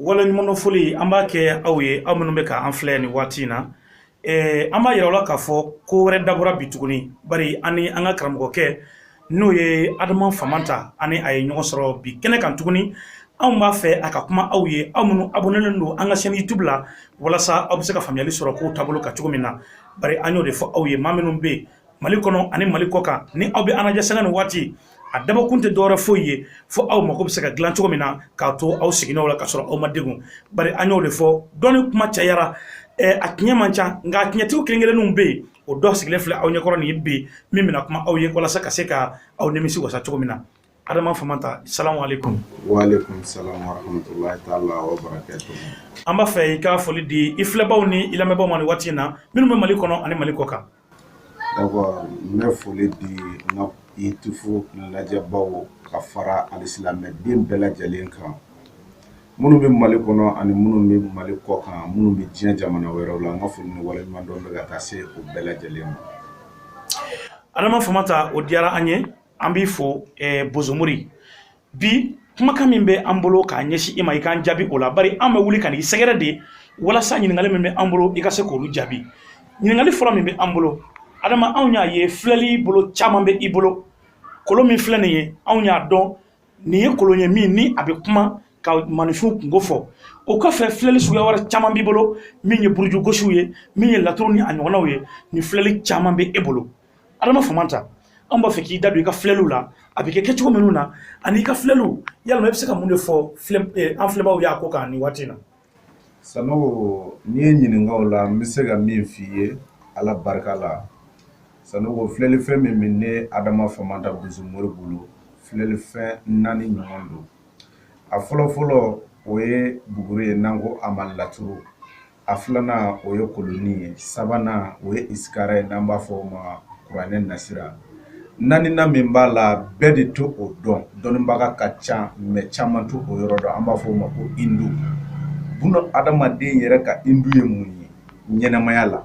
Waleɲumandɔnfoli an b'a kɛ aw ye aw minnu bɛ ka an filɛ nin waati in na ɛɛ an b'a yira aw la k'a fɔ ko wɛrɛ dabɔra bi tuguni bari an ni an ka karamɔgɔkɛ n'o ye Adama Famanta an ni a ye ɲɔgɔn sɔrɔ bi kɛnɛ kan tuguni anw b'a fɛ a ka kuma aw ye aw minnu abonnélen don an ka chaîne YouTube la walasa aw bɛ se ka faamuyali sɔrɔ kow taabolo kan cogo min na bari an y'o de fɔ aw ye maa minnu bɛ mali kɔnɔ ani mali kɔ kan ni aw bɛ an lajɛ sanga ni waati a dabɔkun tɛ dɔwɛrɛ foyi ye fo aw mako bɛ se ka dilan cogo min na k'a to aw sigininw la ka sɔrɔ aw ma degun bari an y'o de fɔ dɔnni kuma cayara a tiɲɛ man ca nka a tiɲɛtigiw kelen-kelenninw bɛ yen o dɔ sigilen filɛ aw ɲɛkɔrɔ nin ye bi min bɛna kuma aw ye walasa ka se ka aw nimisi wasa cogo min na adama famanta salamualekum walekum salam warahmatulahi taala wabarakatuh an b'a fɛ i k'a foli di i filɛbaaw ni i lamɛnbaaw ma nin waati in na minnu bɛ mali kɔnɔ ani mali kɔ kan D'accord n bɛ foli di n ka YouTube lajɛbaw ka fara alisilamɛden bɛɛ lajɛlen kan minnu bɛ mali kɔnɔ ani minnu bɛ mali kɔ kan minnu bɛ diɲɛ jamana wɛrɛw la n ka foli ni waleɲumandɔn bɛ ka taa se u bɛɛ lajɛlen ma adama famanta o diyara an ye an b'i fo bozomori bi kumakan min bɛ an bolo k'a ɲɛsin i ma i k'an jaabi o la bari an bɛ wuli ka n'i sɛgɛrɛ de walasa ɲininkali min bɛ an bolo i ka se k'olu jaabi ɲininkali fɔlɔ min bɛ an bolo adama anw y'a ye filɛli bolo caman bɛ i bolo kolon min filɛ nin ye anw y'a dɔn nin ye kolon ye min ni a bɛ kuma ka maaninfinw kungo fɔ o kɔfɛ filɛli suguya wɛrɛ caman b'i bolo min ye burujugosiw ye min ye laturu ni a ɲɔgɔnnaw ye ni filɛli caman bɛ e bolo adama famanta an b'a fɛ k'i da don i ka filɛliw la a bɛ kɛ kɛcogo minnu na ani i ka filɛliw yalima i bɛ se ka mun de fɔ eh, an filɛbaaw y'a ko kan nin waati in na sanogo n'i ye n ɲininka o la n bɛ se ka min f'i ye ala barika la sanogo filɛlifɛn min bɛ ne adama famanta bozomori bolo filɛlifɛn naani ɲɔgɔn don a fɔlɔfɔlɔ o ye buguri ye n'an ko a ma laturu a filanan o ye kolonin ye sabanan o ye isikara ye n'an b'a fɔ o ma kuranɛ nasira naaninan min b'a la bɛɛ de t'o dɔn dɔnnibaga ka ca mais caman t'o yɔrɔ dɔn an b'a fɔ o ma ko hindu buna adamaden yɛrɛ ka hindu ye mun ye ɲɛnamaya la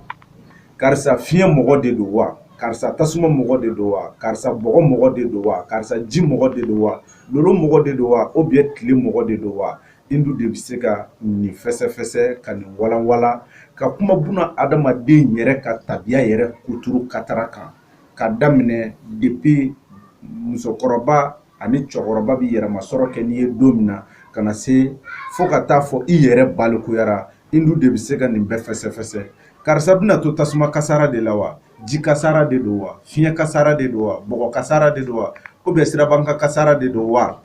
karisa fiɲɛ mɔgɔ de don wa karisa tasuma mɔgɔ de don wa karisa bɔgɔ mɔgɔ de don wa karisa ji mɔgɔ de don wa lolo mɔgɔ de don wa ou bien tile mɔgɔ de don wa Hindu de bɛ se ka nin fɛsɛfɛsɛ ka nin walanwalan ka kuma buna adamaden yɛrɛ ka tabiya yɛrɛ kuturu katara kan k'a daminɛ depuis musokɔrɔba ani cɛkɔrɔba bɛ yɛrɛmasɔrɔ kɛ n'i ye don min na ka na se fo ka t'a fɔ i yɛrɛ balikuyara Hindu de bɛ se ka nin bɛɛ fɛsɛfɛsɛ karisa bɛna to tasuma kasara de la wa ji kasara de don wa fiɲɛ kasara de don wa bɔgɔ kasara de don wa ou bien siraba kan kasara de don wa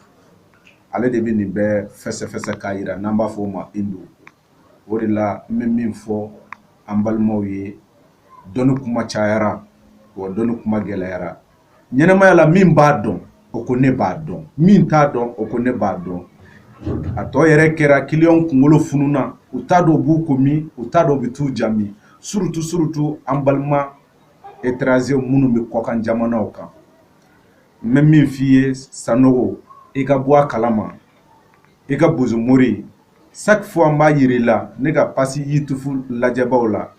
ale de bɛ nin bɛɛ fɛsɛfɛsɛ k'a yira n'an b'a fɔ o ma hindu o de la n bɛ min fɔ an balimaw ye dɔnni kuma cayara wa dɔnni kuma gɛlɛyara ɲɛnamaya la min b'a dɔn o ko ne b'a dɔn min t'a dɔn o ko ne b'a dɔn a tɔ yɛrɛ kɛra kiliyanw kunkolo fununa u t'a dɔn u b'u ko min u t'a dɔn u bɛ t'u ja min surtout surtout an balima étrangers minnu bɛ kɔkan jamanaw kan n bɛ min f'i ye sanogo i ka bɔ a kalama i ka bozomori chaque fois n b'a yira i la ne ka page youtube lajɛbaw la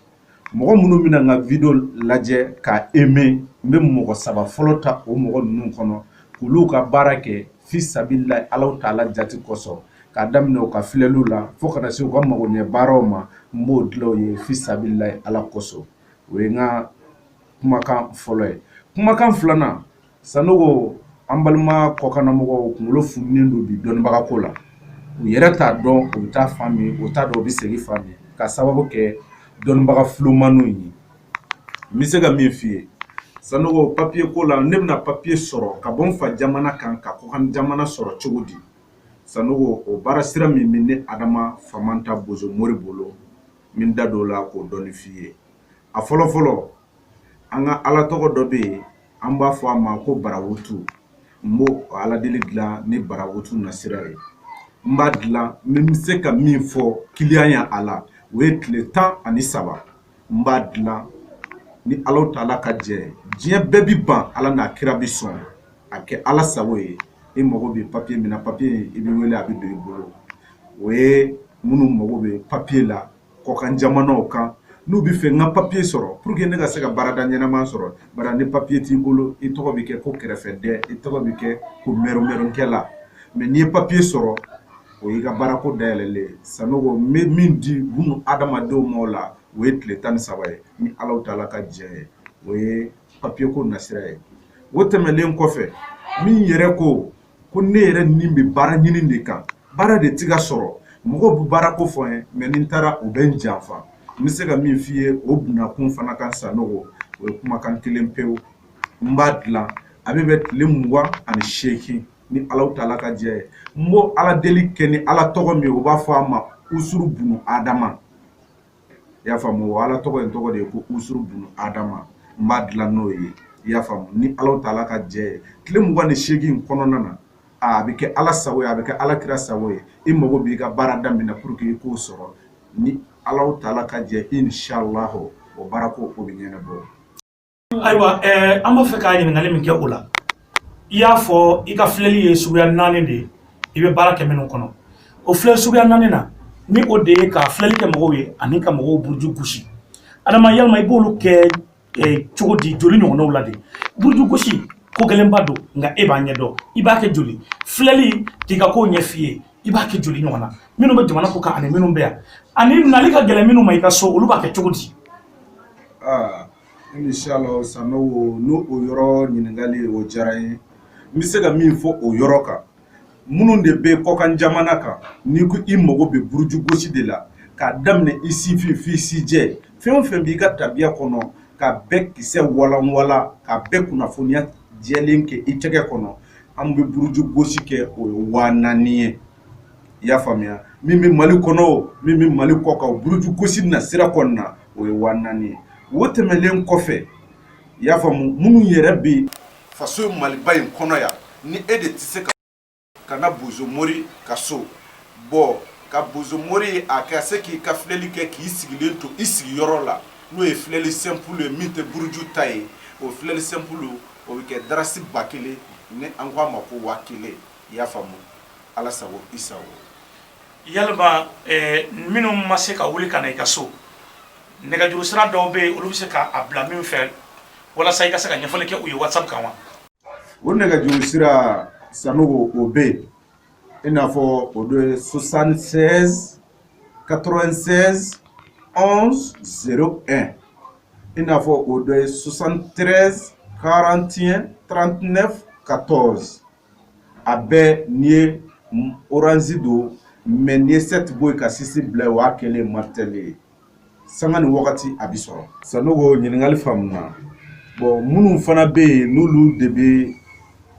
mɔgɔ minnu bɛna n ka video lajɛ k'a aimer n bɛ mɔgɔ saba fɔlɔ ta o mɔgɔ ninnu kɔnɔ k'olu ka baara kɛ fi sabilillahi alahu taala jati kosɔn k'a daminɛ u ka filɛliw la fo ka na se u ka magoɲɛ baaraw ma n b'o dilan u ye fi sabilillahi ala kosɔn o ye n ka kumakan fɔlɔ ye kumakan filanan sanogo an balima kɔkannamɔgɔw kunkolo fununen don bi dɔnnibaga ko la u yɛrɛ t'a dɔn u bɛ taa fan min u t'a dɔn u bɛ segin fan min ka sababu kɛ dɔnnibaga fulomaniw ye n bɛ se ka min f'i ye sanogo papiye ko la ne bɛna papiye sɔrɔ ka bɔ n fa jamana kan ka kɔkan jamana sɔrɔ cogo di sanogo o baara sira min bɛ ne adama famanta bozo mori bolo n bɛ n da don o la k'o dɔɔni f'i ye a fɔlɔ fɔlɔ an ka ala tɔgɔ dɔ bɛ yen an b'a fɔ a ma ko barawutu n b'o ala deli dilan ni barawutu nasira ye n b'a dilan n bɛ se ka min fɔ kiliyan ya a la o ye tile tan ani saba n b'a dilan ni alahu taala ka jɛ ye diɲɛ bɛɛ bɛ ban ala n'a kira bɛ sɔn a kɛ ala sago ye i mago bɛ papiye min na papiye i bɛ wele a bɛ don i bolo o ye minnu mago bɛ papiye la kɔkan jamanaw kan n'u bɛ fɛ n ka papiye sɔrɔ pour que ne ka se ka baarada ɲɛnama sɔrɔ bari ni papiye t'i bolo i tɔgɔ bɛ kɛ ko kɛrɛfɛden i tɔgɔ bɛ kɛ ko mɛrɛmɛrɛnkɛla mais n'i ye papiye sɔrɔ o y'i ka baarako dayɛlɛlen ye sanogo n bɛ min di bunu adamadenw ma o la o ye tile tan ni saba ye ni alahu taala ka jɛ ye o ye papiye ko nasira ye o tɛmɛnlen kɔfɛ min yɛrɛ ko ko ne yɛrɛ nin bɛ baara ɲini de kan baara de tɛ ka sɔrɔ mɔgɔw bɛ baara kofɔ n ye mais ni n taara u bɛ n janfa n bɛ se ka min f'i ye o bunakun fana kan sanogo o ye kumakan kelen pewu n b'a dilan a bɛ bɛn tile mugan ani seegin ni alahu taala ka jɛ ye n b'o ala deli kɛ ni ala tɔgɔ min u b'a fɔ a ma usuru bunu adama i y'a faamu o ala tɔgɔ in tɔgɔ de ye ko usuru bunu adama n b'a dilan n'o ye i y'a faamu ni alahu taala ka jɛ ye tile mugan ni seegin kɔnɔna na a bɛ kɛ ala sago ye a bɛ kɛ ala kira sago ye i mago b'i ka baara daminɛ pour que i k'o sɔrɔ ni alahu taala ka jɛ inshallah o baara ko o bɛ ɲɛnabɔ ayiwa ɛɛ an b'a fɛ ka ɲininkali min kɛ o la i y'a fɔ i ka filɛli ye suguya naani de ye i bɛ baara kɛ minnu kɔnɔ o filɛ suguya naani na ni o de ye ka filɛli kɛ mɔgɔw ye ani ka mɔgɔw buruju gosi adama yalima i b'olu kɛ ɛɛ cogo di joli ɲɔgɔnnaw la de buruju gosi ko gɛlɛnba don nka e b'a ɲɛdɔn i b'a kɛ joli filɛli k'i ka kow ɲɛf'i ye i b'a kɛ joli ɲɔgɔn na minnu bɛ jamana kɔkan ani minnu bɛ yan ani nali ka gɛlɛn minnu ma i ka so olu b'a kɛ cogo di aa Inshallahu Sanogo n'o o yɔrɔ ɲininkali o diyara n ye n bɛ se ka min fɔ o yɔrɔ kan minnu de bɛ kɔkan jamana kan n'i ko i mago bɛ buruju gosi de la k'a daminɛ i sifin f'i sijɛ fɛn o fɛn b'i ka tabiya kɔnɔ ka bɛɛ kisɛ walanwalan ka bɛɛ kunnafoniya jɛlen kɛ i tɛgɛ kɔnɔ an bɛ buruju gosi kɛ o ye waa naani ye i y'a faamuya min bɛ mali kɔnɔ min bɛ mali kɔkan buruju gosi na sira kɔnɔna na o ye waa naani ye o tɛmɛnlen kɔfɛ i y'a faamu minnu yɛrɛ bɛ faso maliba in kɔnɔ yan ni e de tɛ se ka ka na bozomori ka so bon ka bozomori ye a ka se k'i ka filɛli kɛ k'i sigilen to i sigiyɔrɔ la n'o ye filɛli sɛnpulu ye min tɛ buruju ta ye o filɛli sɛnpulu o bɛ kɛ darasi ba kelen ni an ko a ma ko waa kelen i y'a faamu ala sago i sago Ya minnu ma se ka wuli ka na i ka so nɛgɛjuru sira dɔw bɛ yen olu bɛ se k'a bila min fɛ walasa i ka se ka ɲɛfɔli kɛ u ye waati kan wa o nɛgɛj sera san o bɛ yen i n'a fɔ o don susansen ka dɔrɔnsen anw z i n'a fɔ o don ye susantree karantiɲɛ tranteɛf ka tɔn a bɛɛ n'i ye orange don mais n'i ye 7 bɔ yen ka 6 bila yen o y'a kɛlen ye malitɛli ye sanga ni wagati a bɛ sɔrɔ Sanogo ɲininkali faamuna bon minnu fana bɛ yen n'olu de bɛ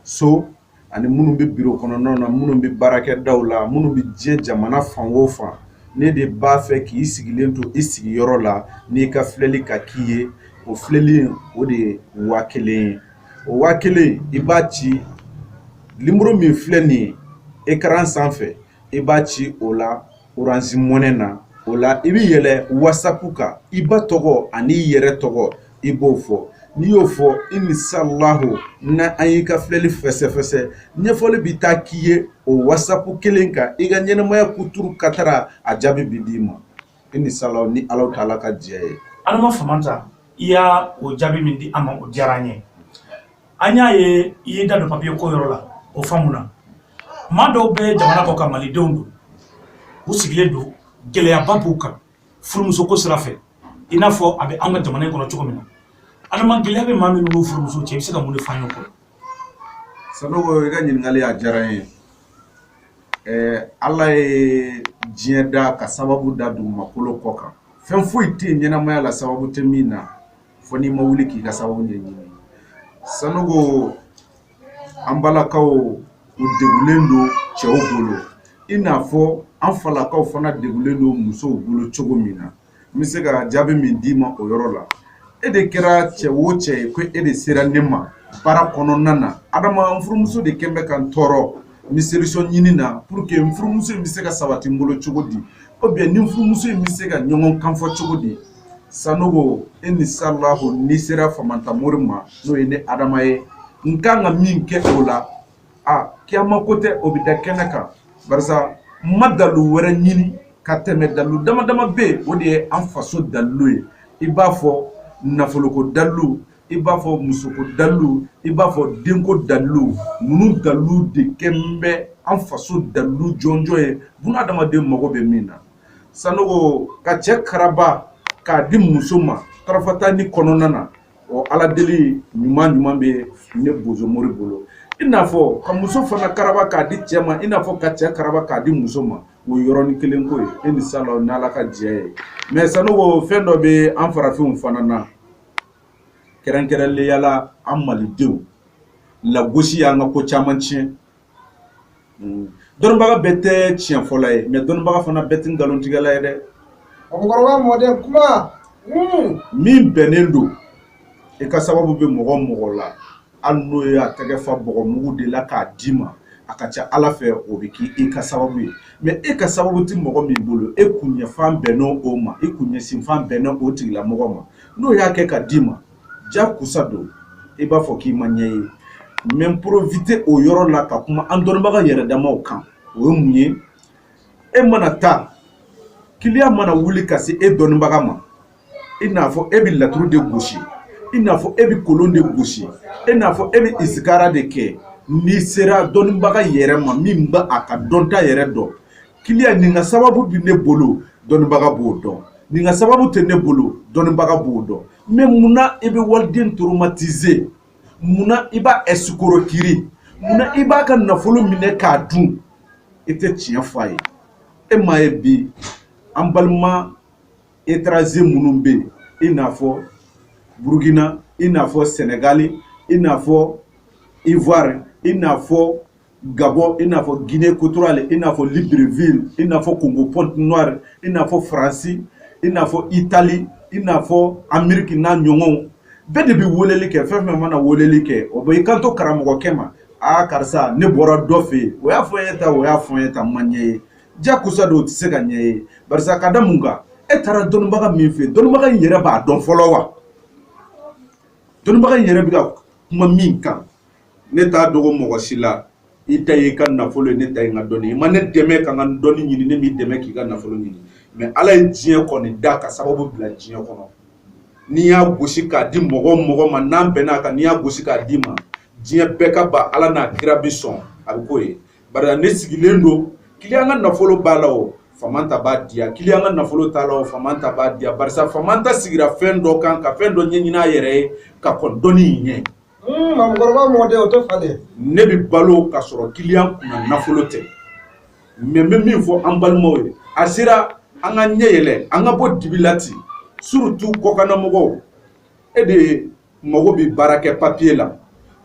so ani minnu bɛ bureau kɔnɔnaw na minnu bɛ baarakɛdaw la minnu bɛ diɲɛ jamana fan o fan ne de b'a fɛ k'i sigilen to i sigiyɔrɔ la n'i ka filɛli ka k'i ye o filɛli in o de ye waa kelen ye o waa kelen i b'a ci nimɔrɔ min filɛ nin ye écran sanfɛ i b'a ci o la orange money na o la i bɛ yɛlɛ wasapu kan i ba tɔgɔ ani i yɛrɛ tɔgɔ i b'o fɔ n'i y'o fɔ inshallahu na an y'i ka filɛli fɛsɛfɛsɛ ɲɛfɔli bɛ taa k'i ye o wasapu kelen kan i ka ɲɛnɛmaya kuturu katara a jaabi bɛ d'i ma inisala ni alahu taala ka jɛ ye adama famanta i y'a o jaabi min di an ma o diyara an ye an y'a ye i ye da don papiye ko yɔrɔ la o faamuna maa dɔw bɛ jamana kɔkan malidenw don u sigilen don gɛlɛyaba b'u kan furumuso ko sira fɛ i n'a fɔ a bɛ an ka jamana in kɔnɔ cogo min na adama gɛlɛya bɛ maa minnu n'u furumuso cɛ i bɛ se ka mun de fɔ an ye kɔrɔ sanogo i ka ɲininkali a diyara n ye ɛɛ ala ye diɲɛ da ka sababu da dugumakolo kɔ kan fɛn foyi tɛ yen ɲɛnamaya la sababu tɛ min na fo n'i ma wuli k'i ka sababu ɲɛɲini sanogo an balakaw u degulen don cɛw bolo i n'a fɔ an falakaw fana degulen don musow bolo cogo min na n bɛ se ka jaabi min d'i ma o yɔrɔ la e de kɛra cɛ o cɛ ye ko e de sera ne ma baara kɔnɔna na adama n furumuso de kɛn bɛ ka n tɔɔrɔ n bɛ solution ɲini na pour que n furumuso in bɛ se ka sabati n bolo cogo di ou bien ni n furumuso in bɛ se ka ɲɔgɔn kan fɔ cogo di sanogo inisalahu n'i sera famanta mori ma n'o ye ne adama ye n kan ka min kɛ o la aa kiyama ko tɛ o bɛ da kɛnɛ kan barisa n ma dalu wɛrɛ ɲini ka tɛmɛ dalu dama dama bɛ yen o de ye an faso dalilu ye i b'a fɔ nafoloko dalilu i b'a fɔ musoko dalilu i b'a fɔ denko dalilu ninnu dalilu de kɛn bɛ an faso dalilu jɔnjɔn ye buna adamaden mago bɛ min na sanogo ka cɛ karaba k'a di muso ma tarafata ni kɔnɔna na ɔ ala deli ɲuman ɲuman bɛ ne bozo mori bolo i n'a fɔ ka muso fana karaba k'a di cɛ ma i n'a fɔ ka cɛ karaba k'a di muso ma o yɔrɔnin kelen ko ye inisala n'ala ka jɛ ye mɛ sanogo fɛn dɔ bɛ an farafinw fana na kɛrɛnkɛrɛnlenya la an malidenw lagosi y'an ka ko caman tiɲɛ mm. dɔnnibaga bɛɛ tɛ tiɲɛ fɔla ye mɛ dɔnnibaga fana bɛɛ tɛ nkalontigɛla ye dɛ mɔgɔkɔrɔba mɔden kuma mm. min bɛnnen don i ka sababu bɛ mɔgɔ mɔgɔ la hali n'o ye a tɛgɛ fa bɔgɔmugu de la k'a d'i ma a ka ca ala fɛ o bɛ k'i ka sababu ye mɛ e ka sababu tɛ mɔgɔ min bolo e kunɲɛfan bɛnnen o ma e kunɲɛsinfan bɛnnen o tigilamɔgɔ ma n'o y'a kɛ ka d'i ma ja kusa don i b'a fɔ k'i ma ɲɛ ye mɛ n porofite o yɔrɔ la ka kuma an dɔnnibaga yɛrɛ damaw kan o ye mun ye e mana taa kiliyan mana wuli ka se e dɔnnibaga ma i n'a fɔ e bɛ laturu de gosi i n'a fɔ e bɛ kolon de gosi i n'a fɔ e bɛ isikara de kɛ n'i sera dɔnnibaga yɛrɛ ma min bɛ a ka dɔnta yɛrɛ dɔn kiliya nin ka sababu bɛ ne bolo dɔnnibaga b'o dɔn nin ka sababu tɛ ne bolo dɔnnibaga b'o dɔn mɛ mun na i bɛ waliden toromatize mun na i b'a ɛsikorokiri mun na i b'a ka nafolo minɛ k'a dun i tɛ tiɲɛ fɔ a ye e m'a ye bi an balima etaraze minnu bɛ yen i n'a fɔ burukina i n'a fɔ sɛnɛgali i n'a fɔ ivoire i n'a fɔ Gabɔ i n'a fɔ Guinee Equatoriale i n'a fɔ Libreville i n'a fɔ Congo Pointe Noire i n'a fɔ France i n'a fɔ Italie i n'a fɔ Amerique n'a ɲɔgɔnw bɛɛ de bɛ weleli kɛ fɛn fɛn mana weleli kɛ o bɛ i kanto karamɔgɔkɛ ma aa karisa ne bɔra dɔ fɛ yen o y'a fɔ n ye tan o y'a fɔ n ye tan ma ɲɛ ye jakosa don o tɛ se ka ɲɛ ye barisa ka da mun kan e taara dɔnnibaga min fɛ yen dɔnnibaga in yɛrɛ b'a dɔn fɔlɔ wa dɔnnibaga in yɛrɛ bɛ ka kuma min kan ne t'a dogo mɔgɔ si la i ta y'i ka nafolo ye ne ta ye n ka dɔnni i ma ne dɛmɛ ka n ka dɔnni ɲini ne m'i dɛmɛ k'i ka nafolo ɲini mɛ ala ye diɲɛ kɔni da ka sababu bila diɲɛ kɔnɔ n'i y'a gosi k'a di mɔgɔ mɔgɔ ma n'an bɛnn'a kan n'i y'a gosi k'a d'i ma diɲɛ bɛɛ ka ban ala n'a kira bi sɔn a bɛ k'o ye bari ne sigilen don kiliyan ka nafolo b'a la o famanta b'a diya kiliyan ka nafolo t'a la o famanta b'a diya barisa famanta sigira fɛn dɔ kan ka fɛn dɔ ɲɛɲini a yɛrɛ ye ka kɔn dɔnni in ɲɛ ne bɛ balo ka sɔrɔ kiliyan kunna nafolo tɛ mɛ n bɛ min fɔ an balimaw ye a sera an ka ɲɛ yɛlɛ an ka bɔ dibi la ten surutu kɔkannamɔgɔw e de mago bɛ baarakɛ papiye la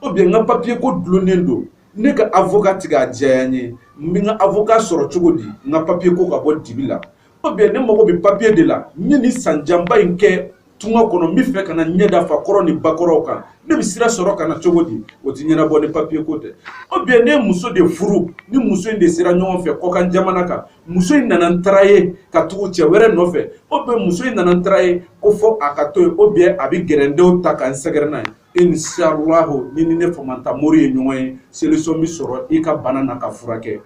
ubiyɛn n ka papiye ko dulonnen don ne ka avoka tɛ k'a diya n ye n bɛ n ka avoka sɔrɔ cogo di n ka papiye ko ka bɔ dibi la Ubiyɛn ne mago bɛ papiye de la n ye nin san janba in kɛ tunga kɔnɔ n bɛ fɛ ka na ɲɛ da fakɔrɔ ni bakɔrɔw kan ne bɛ sira sɔrɔ ka na cogo di o tɛ ɲɛnabɔ ni papiye ko tɛ ubiyɛn ne ye muso de furu ni muso in de sera ɲɔgɔn fɛ kɔkan jamana kan muso in nana n tarayi ka tugu cɛ wɛrɛ nɔfɛ ubiyɛn muso in nana n tarayi ko fɔ a ka to yen ubiyɛn a bɛ gɛrɛdenw ta ka n sɛgɛrɛ n'a ye inshallahu n'i ni ne famanta mori ye ɲɔgɔn ye selisɔn bɛ sɔrɔ i ka bana na ka furakɛ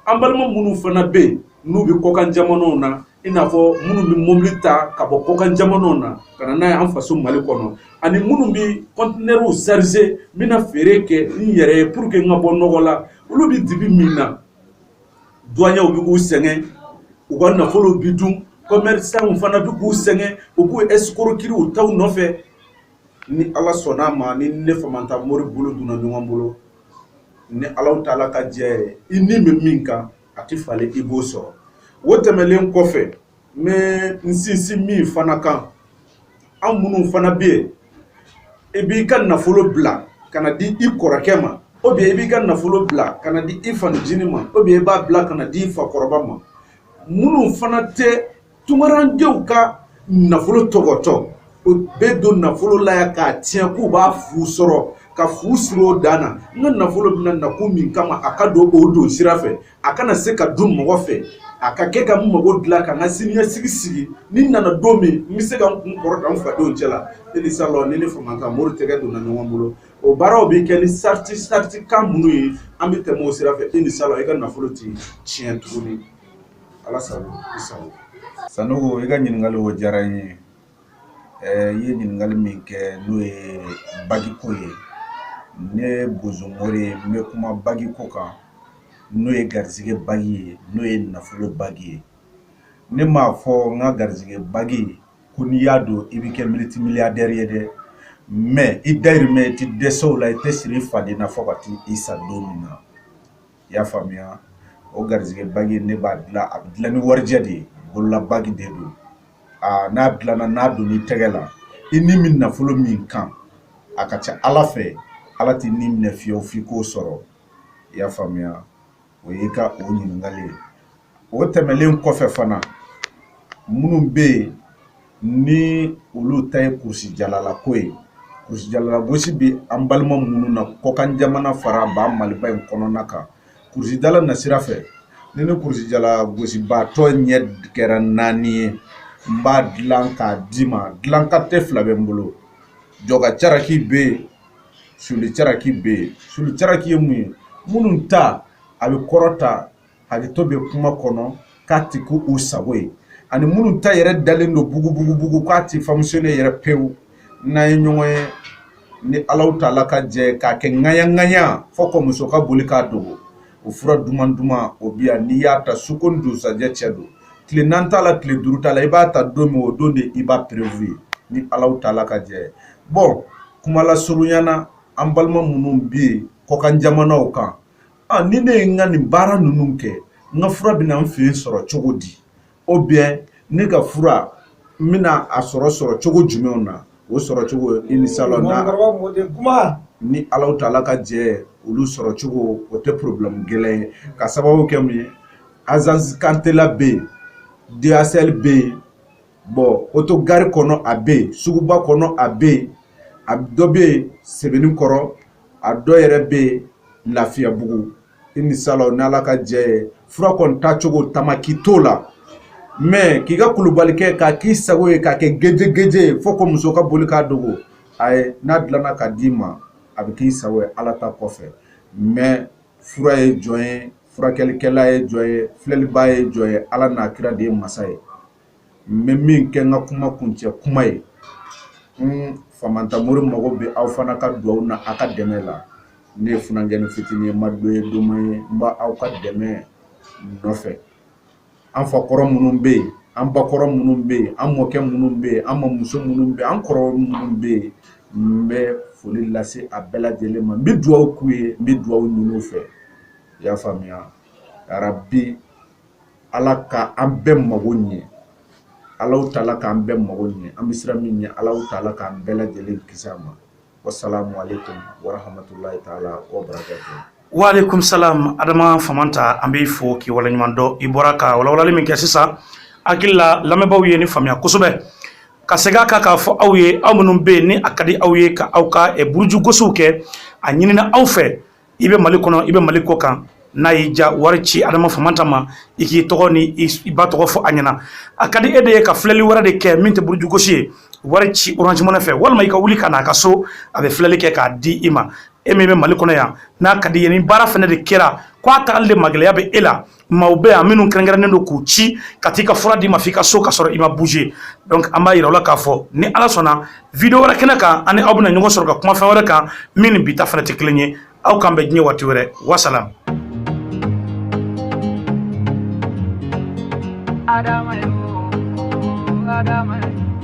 an balima minnu fana bɛ yen n'u bɛ kɔkan jamanaw na i n'a fɔ minnu bɛ mobili ta ka bɔ kɔkan jamanaw na ka na n'a ye an faso mali kɔnɔ ani minnu bɛ kɔntinɛriw sarize n bɛna feere kɛ n yɛrɛ ye puruke n ka bɔ nɔgɔ la olu bɛ dibi min na duwanyew bɛ k'u sɛgɛn u ka nafolow bɛ dun kɔmɛrisanw fana bɛ k'u sɛgɛn u b'u ɛsikorokiri u taw nɔfɛ ni ala sɔnna a ma ni ne famanta mori bolo donna ɲɔgɔn bolo ni alahu taala ka jɛ i ni bɛ min kan a tɛ falen i b'o sɔrɔ o tɛmɛnlen kɔfɛ n bɛ n sinsin min fana kan an minnu fana bɛ yen i b'i ka nafolo bila ka n'a di i kɔrɔkɛ ma ou bien i b'i ka nafolo bila ka n'a di i fanincinin ma ou bien i b'a bila ka n'a di i fakɔrɔba ma minnu fana tɛ Tunkarankɛw ka nafolo tɔgɔtɔ u bɛ don nafolo la yan k'a tiɲɛ k'u b'a fu sɔrɔ ka fu siri o dan na n ka nafolo bɛna na kun min kama a ka don o don sira fɛ a kana se ka dun mɔgɔ fɛ a ka kɛ ka n mago dilan ka n ka siniɲɛsigi sigi ni n nana don min n bɛ se ka n kun kɔrɔta n fadenw cɛ la inisala n'i ni famanta mori tɛgɛ donna ɲɔgɔn bolo o baaraw bɛ kɛ ni sarati saratikan minnu ye an bɛ tɛmɛ o sira fɛ inisala i ka nafolo tɛ tiɲɛ tuguni ala sago i sago sanogo i ka ɲininkali o diyara n ye ɛɛ i ye ɲininkali min kɛ n'o ye bagiko ye ne bozo mori ye n bɛ kuma bagiko kan n'o ye garisɛgɛ bagi ye n'o ye nafolo bagi ye ne m'a fɔ n ka garisɛgɛ bagi ko n'i y'a don i bɛ kɛ multimilliardaire ye dɛ mais i dayirimɛ i tɛ dɛsɛ o la i tɛ siri i faden na fɔ ka t'i sa don min na i y'a faamuya o garisɛgɛ bagi ne b'a dilan a bɛ dilan ni warijɛ de ye bolola bagi de don aa n'a dilanna n'a donn'i tɛgɛ la i ni bɛ nafolo min kan a ka ca ala fɛ ala t'i ni minɛ fiyewu f'i k'o sɔrɔ i y'a faamuya o y'i ka o ɲininkali ye o tɛmɛnlen kɔfɛ fana minnu bɛ yen ni olu ta ye kurusijalalako ye kurusijalalagosi bɛ an balima minnu na kɔkan jamana fara an ba maliba in kɔnɔna kan kurusijala nasira fɛ ni n ni kurusijalagosibaatɔ ɲɛ kɛra naani ye n b'a dilan k'a d'i ma dilan kalite fila bɛ n bolo jɔka caraki bɛ yen suli caraki bɛ yen suli caraki ye mun ye minnu ta a bɛ kɔrɔta hakɛto bɛ kuma kɔnɔ k'a tɛ k'u sago ye ani minnu ta yɛrɛ dalen don bugubugubugu k'a tɛ fonctionner yɛrɛ pewu n'an ye ɲɔgɔn ye ni alahu taala ka jɛ k'a kɛ ŋayaŋaya fɔ ka muso ka boli k'a dogo o fura duman duman o bi yan n'i y'a ta suko ni dugusajɛ cɛ don tile naani t'a la tile duuru t'a la i b'a ta don min o don de i b'a preuve ye ni alahu taala ka jɛ bon kuma lasurunya na an balima minnu bɛ yen kɔkan jamanaw kan Ɔ ni ne ye n ka nin baara ninnu kɛ n ka fura bɛna n fɛ yen sɔrɔ cogo di ou bien ne ka fura n bɛna a sɔrɔ sɔrɔ cogo jumɛn na o sɔrɔ cogo inisala ni alahu taala ka jɛ olu sɔrɔ cogo o tɛ problème gɛlɛn ye ka sababu kɛ mun ye agence kantela bɛ yen DHL bɛ yen bon autogare kɔnɔ a bɛ yen suguba kɔnɔ a bɛ yen a dɔ bɛ yen sebenikɔrɔ a dɔ yɛrɛ bɛ yen lafiyabugu inisala n' ala ka jɛ ye fura kɔni tacogo tamaki t'o la mais k'i ka kulubalikɛ k'a k'i sago ye k'a kɛ gɛjɛgɛjɛ ye fo ko muso ka boli k'a dogo ayi n'a dilanna k'a d'i ma a bɛ k'i sago ye ala ta kɔfɛ mais fura ye jɔn ye furakɛlikɛla ye jɔn ye filɛliba ye jɔn ye ala n'a kira de ye masa ye n bɛ min kɛ n ka kuma kuncɛ kuma ye n Famanta Mori mago bɛ aw fana ka dugawu na a ka dɛmɛ la ne ye funankɛnin fitinin ye n ma dɔ ye doma ye n bɛ aw ka dɛmɛ nɔfɛ an fa kɔrɔ minnu bɛ yen an ba kɔrɔ minnu bɛ yen an mɔkɛ minnu bɛ yen an mamuso minnu bɛ yen an kɔrɔ minnu bɛ yen n bɛ foli lase a bɛɛ lajɛlen ma n bɛ dugawu k'u ye n bɛ dugawu ɲini u fɛ i y'a faamuya yarabi ala ka an bɛɛ mago ɲɛ ala taala k'an bɛɛ mago ɲɛ an bɛ siran min ɲɛ ala taala k'an bɛɛ lajɛlen kisi a ma wasalamu aleyikum waramatulayi taala wabarakatu wa aleyikum salam adama famanta an b'i fo k'i waleɲuman dɔn i bɔra ka walawalali min kɛ sisan hakili la lamɛnbaaw ye nin faamuya kosɛbɛ ka segin a kan k'a fɔ aw ye aw minnu bɛ yen ni a ka di aw ye ka aw ka burujugosiw kɛ a ɲinina aw fɛ i bɛ mali kɔnɔ i bɛ mali kɔ kan n'a y'i ja wari ci adama famanta ma i k'i tɔgɔ ni i ba tɔgɔ fɔ a ɲɛna a ka di e de ye ka filɛli wɛrɛ de kɛ min tɛ burujugosi ye wari ci Orange Money fɛ walima i ka wuli ka n'a ka so a bɛ filɛli kɛ k'a di i ma e min bɛ mali kɔnɔ yan n'a ka d'i ye ni baara fɛnɛ de kɛra k'a tagali de magɛlɛya bɛ e la maaw bɛ yan minnu kɛrɛnkɛrɛnnen don k'u ci ka t'i ka fura d'i ma f'i ka so ka sɔrɔ i ma bouger donc an b'a yira aw la k'a fɔ ni ala sɔnna video wɛrɛ kɛnɛ kan an ni aw bɛna ɲɔgɔn sɔrɔ ka kuma fɛn wɛrɛ kan min ni bi ta fɛnɛ tɛ kelen ye aw k'an bɛn diɲɛ waati wɛrɛ wasalam Adama yo, Adama yo.